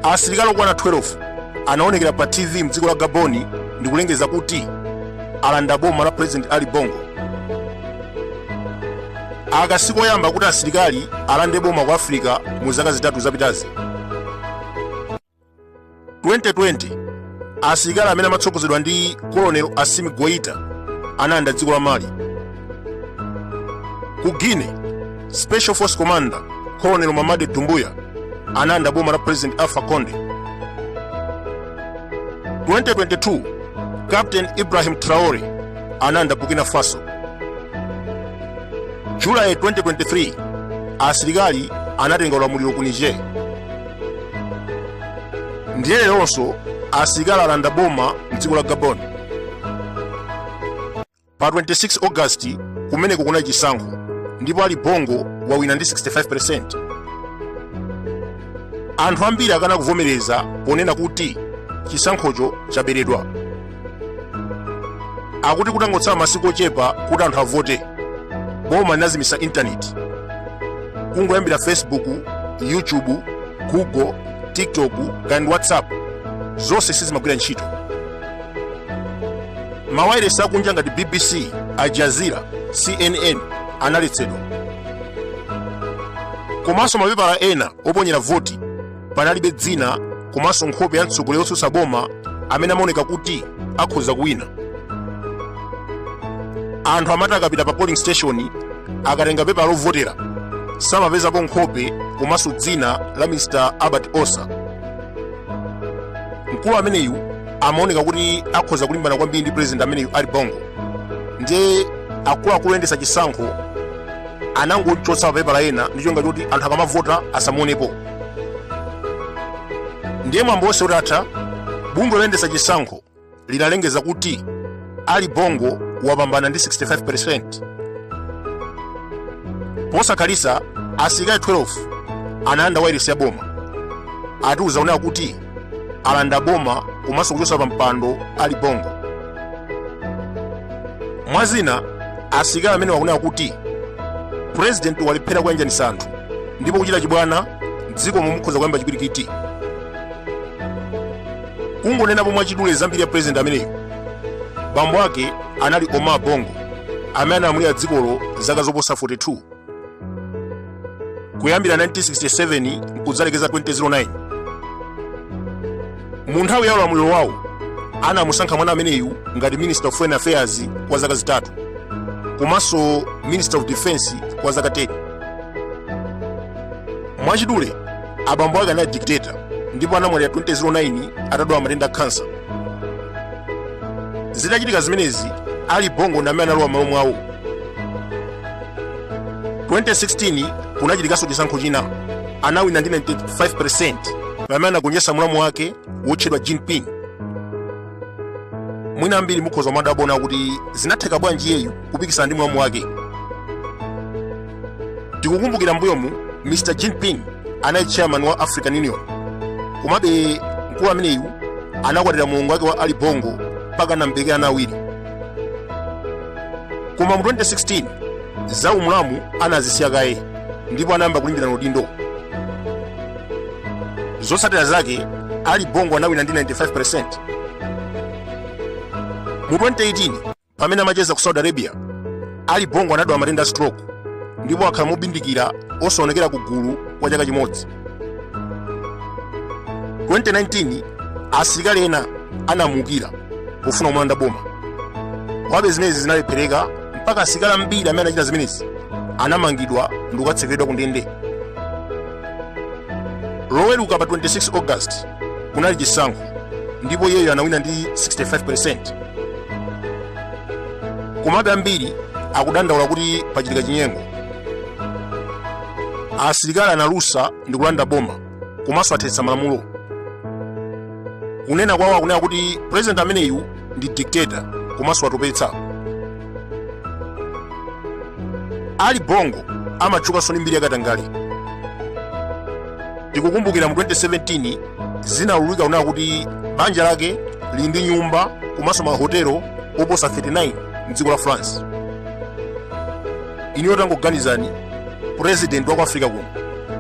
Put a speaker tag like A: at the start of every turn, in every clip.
A: asilikali okwana 12 anaonekera pa tv mdziko la gabon ndi kulengeza kuti alanda boma la president ali bongo aka sikoyamba kuti asilikali alande boma ku africa mu zaka zitatu zapitazi 2020 asilikali amene amatsogozedwa ndi colonel assimi goita analanda dziko la mali ku guinea special force commander colonel mamady doumbouya analanda boma la president alpha conde 2022 captain ibrahim traore analanda burkina faso july 2023 asilikali anatenga ulamuliro ku niger ndiye leronso asilikali alanda boma mdziko la gabon pa 26 august kumeneko kunali chisankho ndipo ali bongo wawina ndi 65% anthu ambiri akana kuvomereza ponena kuti chisankhocho chaberedwa akuti kutangotsala masiku ochepa kuti anthu avote boma linazimisa intaneti kungoyambira facebook youtube google tiktok kaya ndi whatsapp zonse sizimagwira ntchito mawayilesi akunja ngati bbc al jazeera cnn analetsedwa komanso mapepala ena oponyera voti panalibe dzina komanso nkhope ya mtsogoleri wotsutsa boma amene amaoneka kuti akhoza kuwina anthu amati akapita pa polling station akatenga pepala lovotera samapezapo nkhope komanso dzina la mr albert ossa mkulu ameneyu amaoneka kuti akhoza kulimbana kwambiri ndi president ameneyu ali bongo ndiye akuluakulu oyendetsa chisankho anangomuchotsa pa mapepala ena ndi cholinga choti anthu akamavota asamuonepo ndiye mwambo wonse utatha bungwe loyendetsa chisankho linalengeza kuti ali bongo wapambana ndi 65% posakhalitsa asilikali 12 analanda wailesi ya boma ati kudzanena kuti alanda boma komanso kuchotsa pa mpando ali bongo mwa zina asilikali amenewa akunena kuti purezidenti walephera kuyanjanisa anthu ndipo kuchita chibwana mdzikomo mukhoza kuyamba chipwirikiti kungonenapo mwachidule za mbiri ya purezidenti ameneyu bambo ake anali omar bongo amene analamulira dzikolo zaka zoposa 42 kuyambira 1967 mkudzalekeza 2009 mu nthawi ya ulamuliro wawo anamusankha mwana ameneyu ngati minister of foreign affairs kwa zaka zitatu komanso minister of defense kwa zaka 10 mwachidule abambo ake anali dictator ndipo anamwalira 2009 atadwala matenda a kansa zitachitika zimenezi ali bongo ndi amene analowa m'malo mwawo 2016 kunachitikanso chisankho china anawina ndi 95% pamene anagonjetsa mlamu wake wotchedwa jean ping mwina ambiri mukhoza kumadabwa kuti zinatheka bwanji iyeyu kupikisana ndi mlamu wake tikukumbukira mbuyomu mr jean ping anali chairman wa african union komabe mkulu ameneyu anakwatira mulongo wake wa ali bongo mpaka anam'berekera ana awiri koma mu 2016 za umulamu anazisiya kaye ndipo anayamba kulimbirana udindo zotsatira zake ali bongo anawina ndi 95% mu 2018 pamene amacheza ku saudi arabia ali bongo anadwala matenda a stroke ndipo akhala mobindikira osaonekera ku gulu kwa chaka chimodzi 2019 asilikali ena anamuukira pofuna kumulanda boma komabe zimenezi zinalephereka mpaka asilikali ambiri amene anachita zimenezi anamangidwa ndi kukatsekeredwa ku ndende loweruka pa 26 august kunali chisankho ndipo iyeyo anawina ndi 65% komabe ambiri akudandaula kuti pachitika chinyengo asilikali analusa ndi kulanda boma komanso athetsa malamulo kunena kwawo akunena kuti president ameneyu ndi dictator komanso wawatopetsa ali bongo amatchukanso ndi mbiri yakatangale tikukumbukira mu 2017 zinaululika kunena kuti banja lake lili ndi nyumba komanso mahotelo oposa 39 mdziko la france inuyo tangoganizani president wa ku africa kuno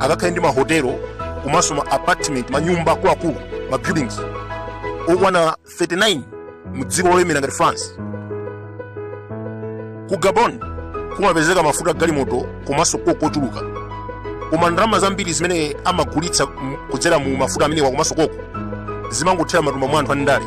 A: akakhale ndi mahotelo komanso ma apartment manyumba akuluakulu ma buildings okwana 39 mu dziko lolemera ngati france ku gabon kumapezeka mafuta agalimoto komanso koko ochuluka koma ndalama zambiri zimene amagulitsa kudzera mu mafuta amenewa komanso koko zimangothera m'matumba mwa anthu andale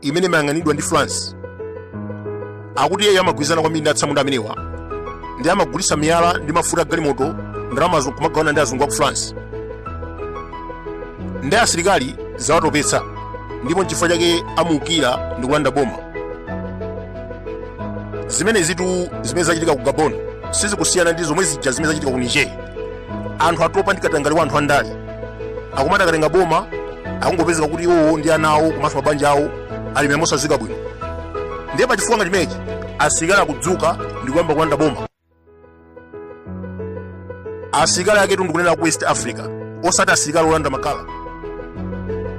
A: imene imayang'anidwa ndi france akuti iyeyo amagwirizana kwambiri ndi atsamunda amenewa ndi amagulitsa miyala ndi mafuta a galimoto ndalamazo kumagawana ndi azungu a ku france ndi asilikali zawatopetsa ndipo nchifukwa chake amuukira ndi kulanda boma zimenezitu zimene zachitika ku gabon sizikusiyana ndi zomwe zija zimene zachitika ku niger anthu atopa ndi katangale wa anthu andale akumati akatenga boma akungopezeka kuti iwowo ndi ana awo komanso mabanja awo alemera mosadziwika bwino ndiye pa chifukwa ngati chimenechi asilikali akudzuka ndi kuyamba kulanda boma asilikali aketu ndikunena ku west africa osati asilikali olanda makala